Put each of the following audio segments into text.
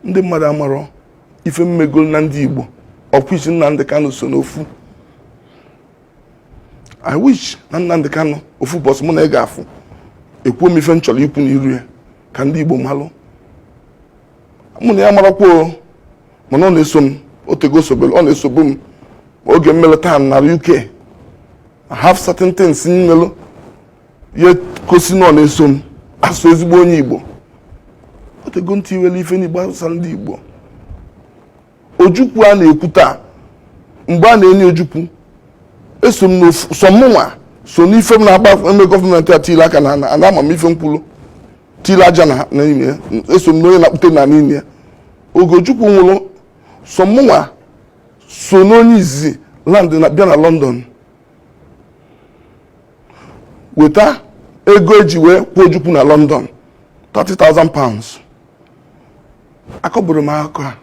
ndị mmadụ amarọ ife m megolu na ndị Igbo of which Nnamdị Kanụ so n'ofu I wish na Nnamdị Kanụ ofu ụbọsị mụ na ya ga-afụ ekwuo m ife m chọrọ ikwu n'iru ya ka ndị Igbo malụ mụ na ya marakwa mana ọ na-eso m otego o sobere ọ na-esobu m oge m melụ tour na UK I have certain things m melụ ihe gosi na ọ na-eso m asụ ezigbo onye igbo otego ntị iwere ife n'igbo asụsa ndị igbo ojukwu a na-ekwu taa mgbe a na-eni ojukwu eso m sọ mụnwa so n'ife m na-agba eme gọọmenti a tiri aka na ana ama m ife m kwulu tiri aja na n'ime ya eso m n'onye na-akpụte na n'ime ya oge ojukwu nwụrụ sọ mụnwa so n'onye izizi land na bịa na London weta ego eji wee kwaa ojukwu na London 30,000 pounds akọburo m akụkọ a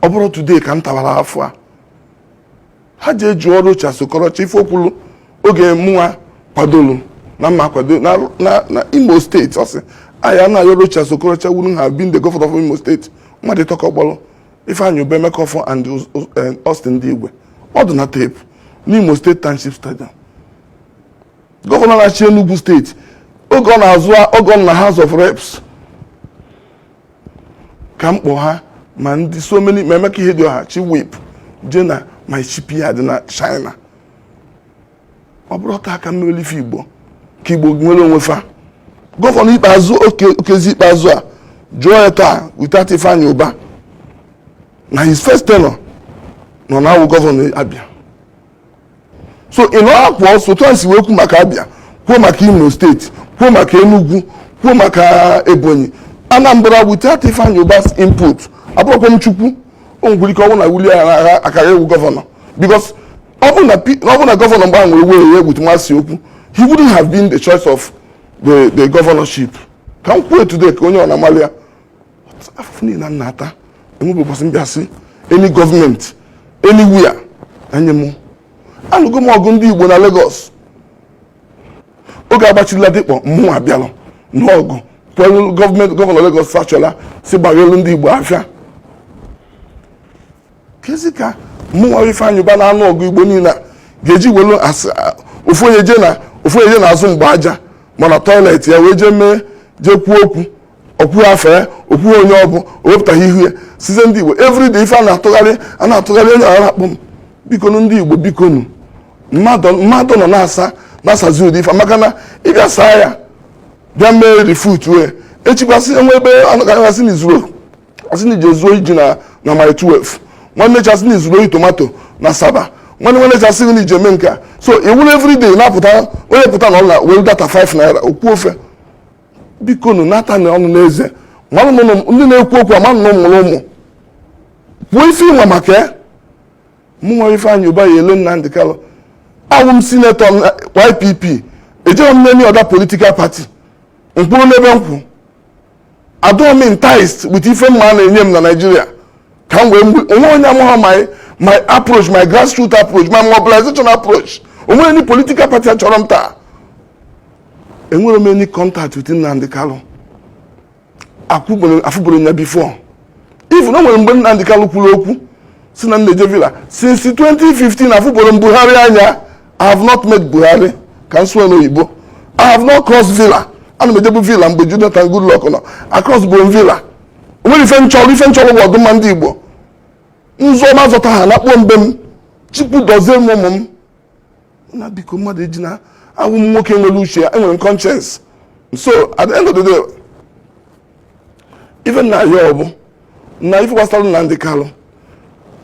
ọ bụrụ today ka m tawara afọ a ha jee jụọ Rochas Okorocha ife o kwulu oge mụnwa kwadolu na mma kwado na imo steeti ọ sị ya na ya Rochas Okorocha wouldn't have been the governor of imo steeti mmadụ atọ ka ọ kpọrọ Ifeanyi Uba Emeka Offor and eh, Austin Ndigwe ọ dị na tape n'Imo steeti Township Stadium gọvanọ na-achị Enugu steeti oge ọ na-azọ oge ọ nọ na House of Reps ka m kpọ ha ma ndị so many ma Emeka Ihedioha chief whip jee na my shipyard na China ọ bụrọ taa ka m melụ ife igbo ka igbo nwere onwe fa gọvanọ Ikpeazu Okezie Ikpeazu a jụọ ya taa without Ifeanyi Uba na his first tenure nọ na awụ gọvanọ Abia so ị nọ akwụ ọsọ otu a si wee kwu maka Abia kwuo maka Imo steeti kwuo maka Enugu kwuo maka Ebonyi Anambra without Ifeanyi Uba's input abụrọkwa m Chukwu o nwere ike ọ wụ na Willie agha akara awụ gọvanọ because ọ bụrụ na P- ọ bụrụ na gọvanọ mgbe ahụ nwere were ya egbutu masị okwu he wouldn't have been the choice of the, the governorship ka m kwuo today ka onye ọ na-amalị ya afụfụ niile m na-ata enwebe ụbọchị m bịa sị any gọọmenti anywhere enye m alụgo m ọgụ ndị igbo na Lagos oge a gbachi Ladipo mụnwa bịalụ n'ọgụ kwelu gọọmenti gọvanọ Lagos Fashola sị gbaghelu ndị igbo afịa kezi ka mụnwa Ifeanyị Uba na anụ ọgụ Igbo niile ga-eji welu ofu onye je na ofu onye je na azụ mgba aja ma na toilet ya wee jee mee jee kwuo okwu okwu afọ ya okwu onye ọ bụ o wepụtaghị ihu ya send ndị Igbo everyday ife a na-atụgharị a na-atụgharị onye ara akpụ m bikonu ndị Igbo bikonu mmadụ nọ na-asa na-asazi ụdị ife maka na ịbịa saa ya bịa mee refute wee echi kwa a sị enwe ebe anọgaghasị na i zuru a sị na i je zuo ji na na Mile 12 nwanne echi a sị na i zuru ori tomato na Asaba nwanne nwanne echi a sị na i je mee nke a so iwuru everyday na-apụta onye pụta na ọ na were data 5 naira okwu ofe bikonụ nata na ọnụ n'eze mmanụ na ụmụ- ndị na-ekwu okwu amanụ na ụmụrụ ụmụ kwuo ife ị ma maka ya mụnwa Ifeanyị Ụba ya-ele Nnamdi Kanu awụ m senator m na YPP ejeghị m n'any other political party m kwụrụ n'ebe m kwụ adọọ m enticed with ife mmadụ na-enye m na Naịjirịa ka m gwa gị o nwe onye amaghị my my approach my grassroots approach my mobilization approach o nwerọ any political party achọrọ m taa enwerọ m any contact with Nnamdi Kanu afụburọ m ya before even o nwere mgbe Nnamdi Kanu kwuru okwu sị na m na-eje villa since 2015 afụburọ m Buhari anya i have not met buhari ka m sụọ n'oyibo i have not crossed villa ana m ejebu villa mgbe jonathan goodluck nọ acrossburọ villa o nwerọ ife m chọrọ ife m chọrọ bụ ọdụmma ndị igbo nzọ ma zọta ha nakpuo mbe m chukwu dozie m ụmụ m na biko mmadụ ejina awụ m nwoke nwere uche ya enwere m conscience so at the end of the day ife m na-ayọ bụ na ife gbasara Nnamdi Kanu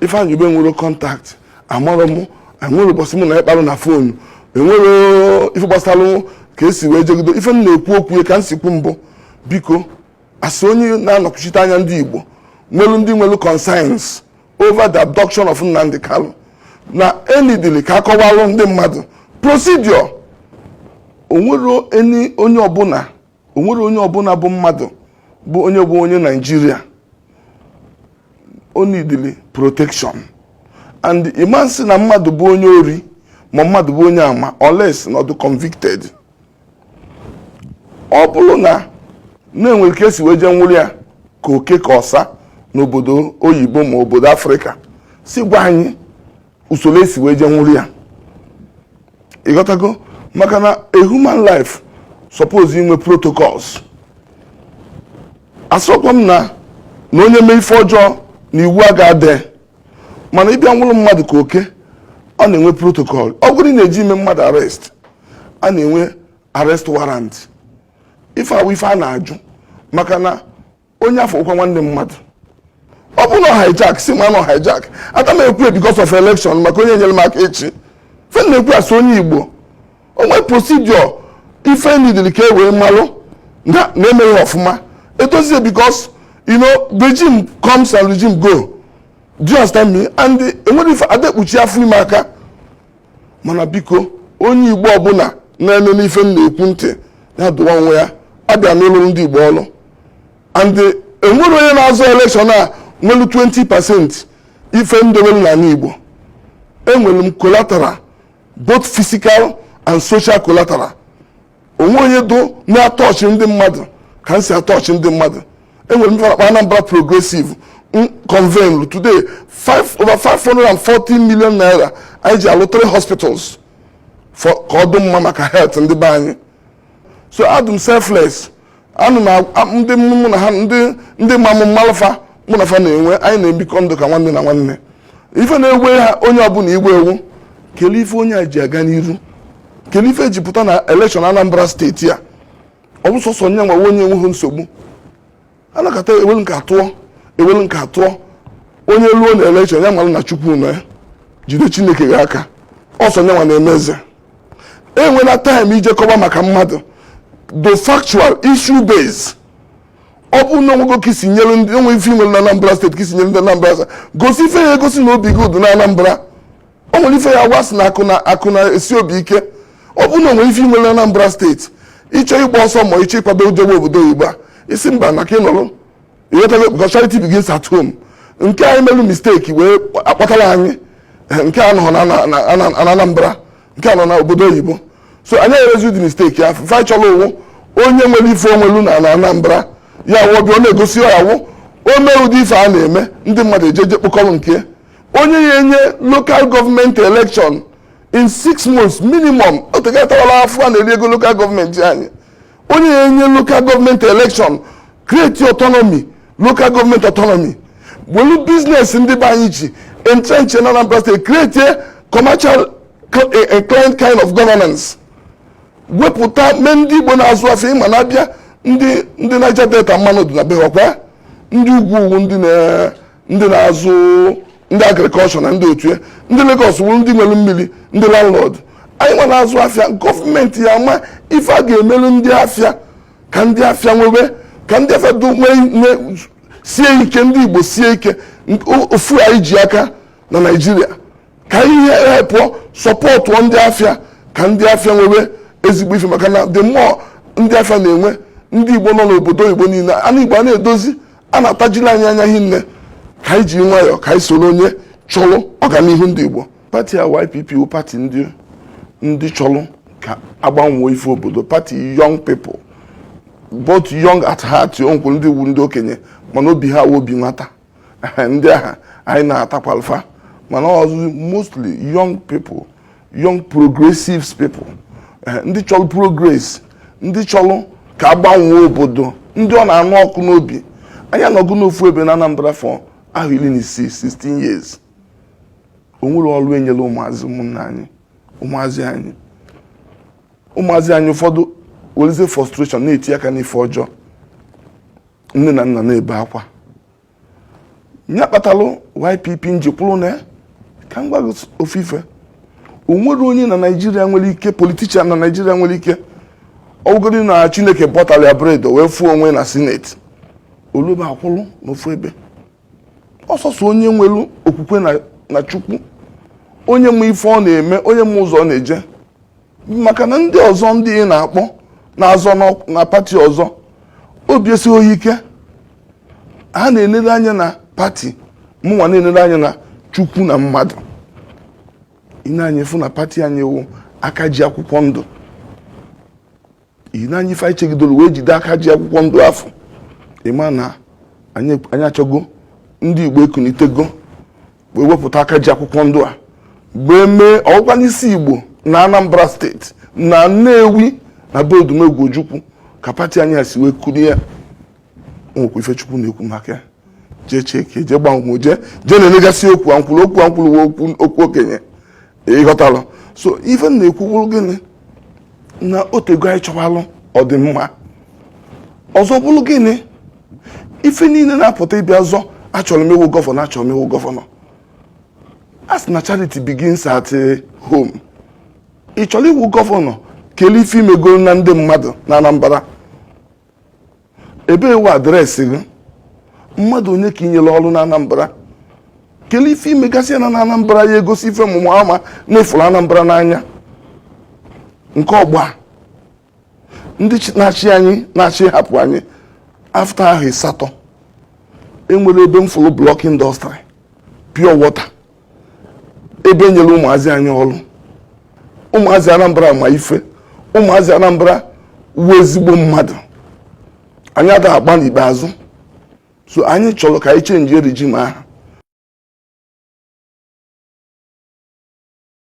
Ifeanyi Uba enwerọ contact amarọ m o nwerọ ụbọchị mụ na ya kparụ na fonu enwere ife gbasara ka esi wee jegido ife m na-ekwu okwu ya ka m si kwu mbụ biko asị onye na-anọkwuchite anya ndị Igbo nwelu ndị nwelu concerns over the abduction of Nnamdi Kanu na e needili ka a kọwalụ ndị mmadụ procedure o nwere onye ọbụla o nwere onye ọbụla bụ mmadụ bụ onye bụ onye naijiria o needili protection and ị man sị na mmadụ bụ onye ori ma mmadụ bụ onye ama unless na ọ dụ convicted ọ bụrụ na na-enwere ka esi wee jee nwụrụ ya ka oke ka ọsa n'obodo oyibo ma obodo afrịka sị gwa anyị usoro esi wee je nwụrụ ya ịghọtago maka na a human life suppose inwe protocols asịrọkwa m na na onye mee ife ọjọọ na iwu a ga-adị mana ịbịa nwụrụ mmadụ ka oke a na-enwe protocol ọ bụrụ ị na-eje ime mmadụ arrest a na-enwe arrest warrant ife a wụ ife a na-ajụ maka na onye afọ ụkwa nwanne mmadụ ọ bụ na ọ hijack sị m na ọ hijack ada ekwu because of election maka onye nyere m aka echi ife na-ekwu asị onye igbo o nwee procedure ife nidiri ka e wee malụ na emeghị ọfụma edozie because you know regime comes and regime go do you understand me and enwere ife ada ekpuchi afọ ime aka mana biko onye igbo ọbụla na-ege ife m na-ekwu ntị ya dụwa onwe ya abịa lụọrọ ndị igbo ọrụ and eh, enwerọ onye na-azọ elekshọn a nwere 20 pasent ife m dowere n'ala Igbo enwere m collateral both physical and social collateral o nweghị onye dụ na-atọchị ndị mmadụ ka m si atọchị ndị mmadụ enwere m akpa Anambra progressive convened today five over 540 million naira anyị ji alụ three hospitals for ka ọ dị mma maka health ndị be anyị so adụ m selfless and ndị mụ na ha ndị ma m m malụ fa mụ na fa na-enwe anyị na-ebikọ ndụ ka nwanne na nwanne ife na-egwe ha onye ọbụla igwe ewu kelee ife onye a ji aga n'iru kelee ife ji pụta na elekshọn Anambra steeti a ọ bụ sọsọ nyanwa wụ onye enweghị nsogbu anakọta e welu nke a tụọ e welu nke a tụọ onye ruo na elekshọn ya mara na chukwu na ya jide chineke gị aka ọ sọ nyanwa na-eme eze enwela taịm ije kọba maka mmadụ do factual issue base ọ bụrụ na o nwego ka i si nyere ndị o nwe ife i nwere na anambra steeti ka i si nyere ndị anambra gosi ife ya-egosi na obi gị dụ na anambra o nwere ife ya agwa sị na akụ na akụ na-esi obi ike ọ bụrụ na o nwerọ ife i nwelu na Anambra steeti ịchọ ịgba ọsọ ma ịchọ ịkwado jebe obodo oyibo a sị mba na ka ị nọrọ ị ghọtago because charity begins at home nke anyị melu misteki wee akpọtara anyị eh, nke a nọ na na- na- na- na Anambra nke a nọ na obodo oyibo so anyị emezi ụdị misteki ya ife a chọrọ wụ onye nwere ife o nwelu na na Anambra ya wụ ọ bịa ọ na-egosi ya wụ o mee ụdị ife a na-eme ndị mmadụ ejeje kpokọrọ nke ya onye ya enye lokal gọọmenti elekshọn in six months minimum o tegatawala fa na-eri ego lokal gọọmenti anyị onye ya enye lokal gọọmenti elekshọn kreti ọtọnọmi lokal gọọmenti ọtọnọmi welu biznes ndị be anyị ji entrench na Anambra steeti kreti commercial inclined kind of governance wepụta mee ndị Igbo na-azụ afịa ị ma na a bịa ndị ndị Niger Delta mmanụ dị na be ha ọkwa ndị ugwu ugwu ndị na ndị na-azụ ndị agrikọlshọ na ndị otu ya ndị Lagos wụrụ ndị nwere mmiri ndị landlord anyị nwa na-azụ afịa gọọmenti ya-ama ife a ga-emelu ndị afịa ka ndị afịa nwebe ka ndị afịa sie ike ndị Igbo sie ike ofu anyị ji aka na Naịjirịa ka e helpuo sọpọtụ ndị afịa ka ndị afịa nwebe ezigbo ife maka na the more ndị afịa na-enwe ndị Igbo nọ n'obodo oyibo niile ana Igbo a na-edozi a na-atajiri anyị anya hinne ka anyị ji nwayọọ ka anyị soro onye chọrọ ọganihu ndị Igbo pati a YPP wụ pati ndị ndị chọrọ ka a gbanwe ifu obodo pati young people both young at heart o nwekwuru ndị wụ ndị okenye mana obi ha wụ obi nwata ndị ahụ anyị natakwalụ fa mana ọ wụzị mostly young people young progressives people eh, ndị chọrọ progress ndị chọrọ ka a gbanwe obodo ndị ọ na-anụ ọkụ n'obi anyị anọgo n'ofu ebe na Anambra for ahọ iri na isii 16 years o nwerọ ọrụ e nyere ụmụazị ụmụnna anyị ụmụazị anyị ụmụazị anyị ụfọdụ werezie frustration na-etinye aka n'ife ọjọọ nne na nna na-ebe akwa ya kpatalụ YPP m ji kwụrụ nee ka m gwa gị ofu ife o nwerọ onye na naijiria nwere ike politician na naijiria nwere ike ọ wụgodu na chineke bọtara ya bread wee fụ onwe na sineti o lube akwụrụ n'ofu ebe ọ sọsọ onye nwere okwukwe na chukwu onye ma ife ọ na-eme onye ma ụzọ ọ na-eje maka na ndị ọzọ ndị ị na-akpọ na-azọ na pati ọzọ obi esighị ha ike ha na-enere anya na pati mụnwa na-enere anya na chukwu na mmadụ i nee anya ị fụ na pati anyị wụ aka ji akwụkwọ ndụ ihi na anyị ife anyị chegidoro wee jide aka ji akwụkwọ ndụ afụ ị ma na anyị achọgo ndị igbo ekunitego wee wepụta aka ji akwụkwọ ndụ a wee mee ọ wụkwa n'isi igbo na anambra steeti na nnewi na be odumegwu ojukwu ka pati anyị a si wee kulie ya nwekwa ife chukwu na-ekwu maka ya jee cheke jee gbanwe jee jee na-enegasị okwu ankwụrụ okwu ankwụrụ wee okwu okwu okenye ịghọtara so ife m na-ekwu bụrụ gịnị na o tego anyị chọwalụ ọdịmma ọzọ bụrụ gịnị ife niile na-apụta ị bịa zọ achọrọ m ịwụ gọvanọ achọrọ m ịwụ gọvanọ a sị na charity begins at eh, home ị chọrọ ịwụ gọvanọ kelee ife i mego na ndị mmadụ na Anambra ebe wụ address gị mmadụ one ka i nyere ọrụ na Anambra kelee ife i megasị na Anambra ya egosi ife ọmụmụ ama na ị fụrụ Anambra n'anya nke ọgba ndị na-achị anyị na-achị hapụ anyị after ahọ ịsatọ e nwere ebe m fụrụ block industry pure water ebe e nyere ụmụazị anyị ọrụ ụmụazị Anambra ma ife ụmụazị Anambra wụ ezigbo mmadụ anyị ada agba n'ikpeazụ so anyị chọrọ ka anyị change regime ahụ